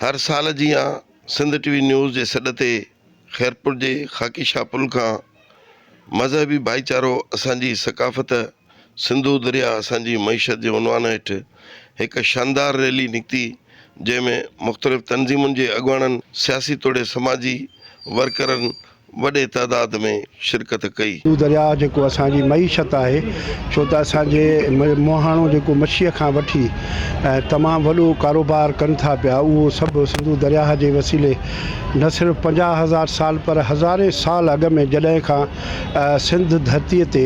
هر سال جيان Sindh T V news جي سڏ تي خيرپور جي خاڪي شاهه پل کان مذهبي ڀائيچارو اسان جي ثقافت سنڌو درياء اسان جي معيشت جي عنوان هيٺ هڪ شاندار ريلي نڪتي جنهن ۾ مختلف تنظيمن جي اڳواڻن سياسي توڙي سماجي ورڪرن وڏي تعداد ۾ شرڪت ڪئي. اهو درياهه جيڪو اسان جي معيشت آهي ڇو ته اسان جي مهاڻو جيڪو مڇيء کان وٺي تمام وڏو ڪاروبار ڪن ٿا پيا اهو سڀ سنڌو درياهه جي وسيلي نه صرف پنجاهه هزار سال پر هزارين سال اڳ ۾ جڏهن کان سنڌ ڌرتي تي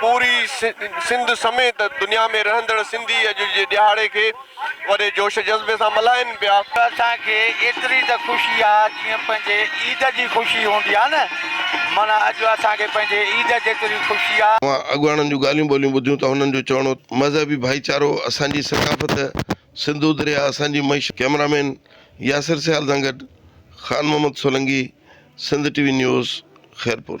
پوري سنڌ سميت دنيا ۾ رهندڙ سنڌي اڄ جي ڏهاڙي کي وڏي جوش جذبي سان ملهائين پيا. ته اسان کي ايتري ته خوشي آ جيئن پنهنجي عيد جي خوشي هوندي آ نه معنيٰ اڄ اسان کي پنهنجي عيد جيتري خوشي آ. اوهان اڳواڻن جون ڳالهيون ٻولهيون ٻڌيون ته هنن جو چوڻو مذهبي ڀائيچارو اسان جي ثقافت سنڌو درياء اسان جي معيشت. ڪئميرا مين ياسر سيال سان گڏ Khan Muhammad Solangi Sindh T V news Khairpur.